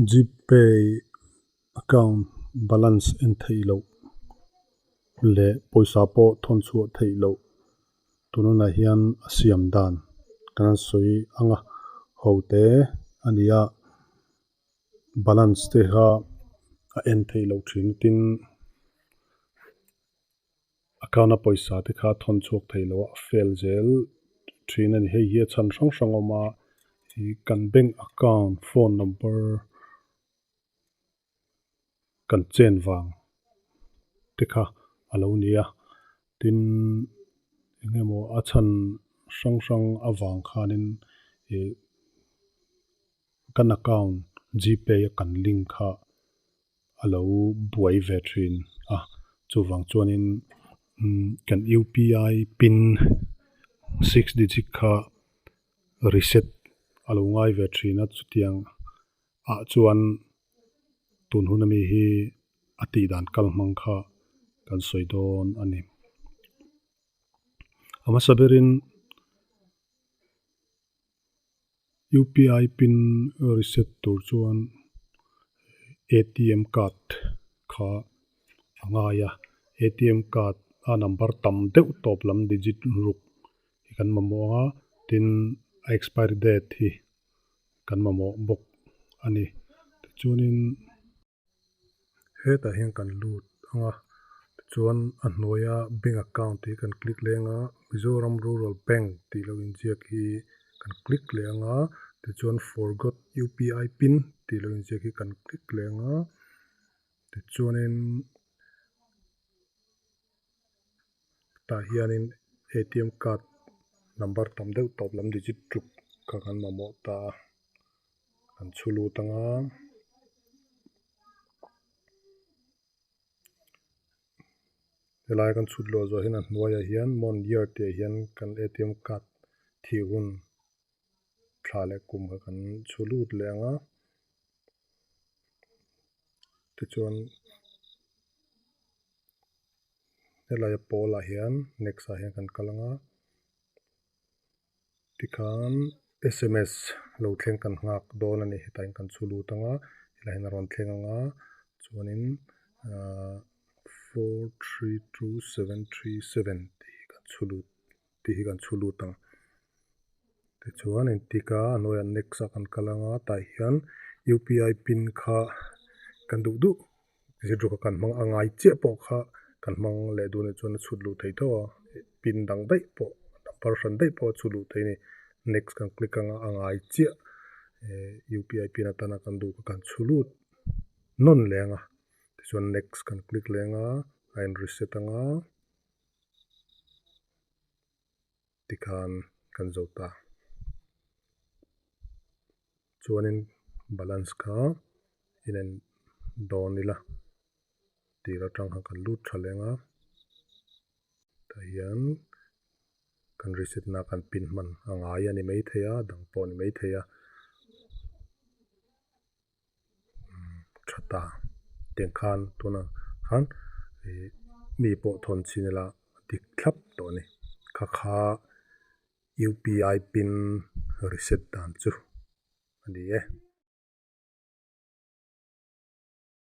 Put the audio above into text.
Gpay account balance en theih loh leh pawisa pawh thawn chhuah theih loh tunah hian a siam dan ka la sawi ang a, ho te a ni a balance te kha a en theih loh thin tin. Account a pawisa te kha thawn chhuak thei lo a, a fail zel thin a ni. Hei hi a chhan hrang hrang awm a, i kan bank account phone number kan chen vang te kha a lo ni a, tin eng emaw a chhan hrang hrang avang khanin i kan account GPay a kan link kha, a lo buai ve thin a, chuvang chuanin kan upi pin six digit kha reset a lo ngai ve thin a, chutiang ah chuan tun hun ami hi a tih dan kal hmang kha kan sawi dawn a ni. A hmasa berin UPI pin reset tur chuan atm card kha a ngai a, atm card a number tam deuh tawp lam digit ruk hi kan mamawh ang a, tin a expiry date hi kan mamawh bawk a ni. Tichuanin. Hetah hian kan lut ang a, tichuan a hnuaia bank account tih hi kan click leh ang a, Mizoram Rural Bank tih lo inziak hi kan click leh ang a, tichuan forgot UPI pin tih lo inziak hi kan click leh ang a, tichuanin. tah hianin atm card number tam deuh tawp lam digit ṭuk kha kan mamawh ta a kan chhu lut ang a helai kan chhut lawh zawh hian a hnuaiah hian mon diar tih ah hian kan atm card thih hun thla leh kum kha kan chhu lut leh ang a tichuan-- helai a pawl ah hian next ah hian kan kal anga tikhan sms lo thleng kan nghak dawn a ni hetah hian kan chhu lut anga helai hian a rawn thleng anga chuanin four three two seven three seven tih kan chhu lut. tih hi kan chhu lut ang. Tichuan entik a, a hnuaiah next a kan kal ang a, tah hian UPI pin kha kan duh duh zir ru kha kan hmang a, a ngai chiah pawh kha kan hmang leh duh a nih chuan a chhut lut thei tauh a, pin dang daih pawh number hran daih pawh a chhut lut thei a ni. Next kan click ang a, a ngai chiah eh UPI pin atan a kan duh kha kan chhu lut nawn leh ang a, tichuan next kan click leh ang a, a en reset ang a. tikhan kan zawh ta. Chuanin balance kha inen dawn ila tih aṭang kha kan lut ṭha leng a, tah hian kan reset na kan pin hman a ngai a ni maithei a a dang pawh a ni maithei a. tha ta tiang khan tunah khan ihh mi pawh thawn chin ila dik thlap tawh a ni kha kha upi pin reset dan chu a ni e.